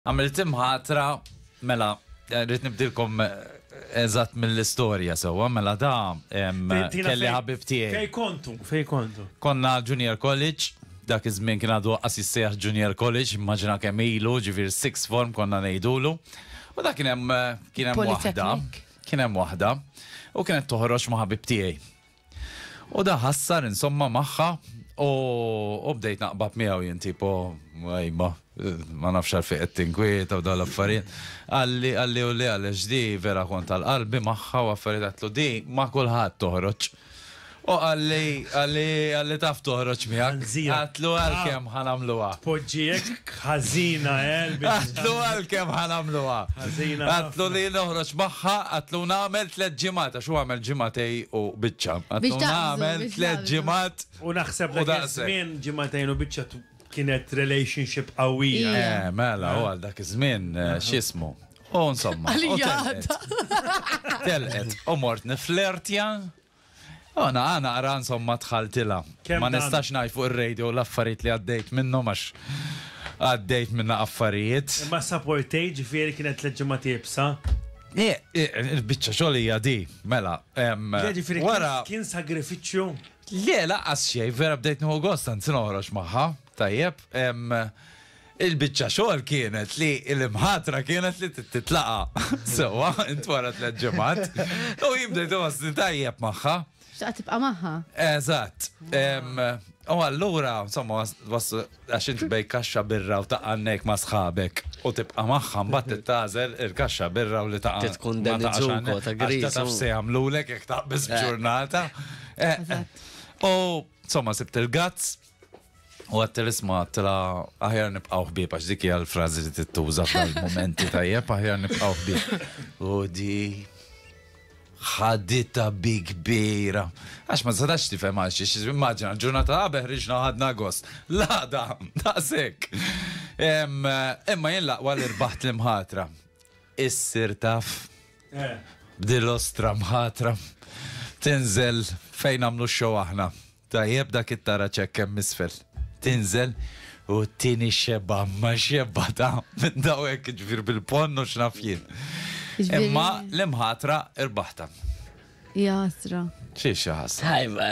Għamilt imħatra, mela, rrit nibdilkom eżatt mill-istorja sewwa, mela da kelli ħabib tiegħi. Fej kontu, fej kontu. Konna junior college, dak iż-żmien kien għadu qas jissejjaħ junior college, immaġina kemm ilu, ġifier six form konna ngħidulu. U dak kien hemm kien hemm waħda, kien hemm waħda, u kienet toħroġ ma' ħabib tiegħi. U da ħassar insomma magħha u bdejt naqbab miegħu jien tipo għajba ma nafx għal fejn qed tinkwieta u dal affarijiet. Għalli għalli u li għalli ġdi vera kont għal qalbi magħha u affarijiet għatlu di ma kulħadd toħroġ. U għalli għalli għalli taf toħroġ miegħek. Għatlu għal kemm ħanamluha. Poġġiek Ħażina, eh? Għatlu għalkemm ħa nagħmluha. Ħażina. Għatlu li noħroġ magħha, għatlu nagħmel tliet ġimgħat, għax hu għamel ġimgħatej u biċċa. Għatlu nagħmel tliet ġimgħat. U naħseb li żmien ġimgħatejn u biċċa kienet relationship qawwija. Eh, mela, u għal dak iż-żmien eh, x'ismu. U insomma. Telqet. U mort niflertja. Għana naqra insomma dħaltilha. Ma nistax ngħid fuq ir-radio l-affarijiet li għaddejt minnhom għax għaddejt minn affarijiet. Imma saportej ġifieri kienet tliet ġimgħat iebsa? Il-biċċa xogħol hija di, mela. Ġifieri kien sagrifiċċju? Le, lanqas xejn, vera bdejt nieħu gost anzi noħroġ magħha, tajjeb. Il-biċċa xogħol kienet li l-imħatra kienet li titlaqa sewwa int wara tliet ġimgħat u jibda jtosni tajjeb magħha. X'qa tibqa' magħha. Eżatt. U allura, insomma, għax inti bej kaxxa birra u taqannek ma' sħabek u tibqa' magħha mbagħad tittażel il-kaxxa birra u li taqa' tkun dan iż-żuko ta' griż. Ta' taf se jagħmlulek jekk taqbeż b'ġurnata. Eh, eh. U insomma, sibt il-gazz U għattel isma għattela aħjar nibqaw ħbib, għax dik hija l-frażi li tittuża f'dal-momenti tajjeb, aħjar nibqaw ħbib. U di ħadita bi kbira. Għax ma sadax tifhem għal xiex, immaġina, ġurnata għabeh riġna ħadna gost. Lada, daqsek. Imma jien laqwa li rbaħt l-imħatra. Issir taf. Eh. Bdil-ostra mħatra. Tinżel fejn għamlu xow aħna. Tajjeb dak it-taraġ hekk hemm isfel. Tinżel u t-tieni xebgħa, imma xebgħa ta' minn daw hekk jiġifieri bil-ponn u x'naf jien. Imma l-imħatra rbaħtha. Ja ħasra. Xi xi ħasra. Tajba.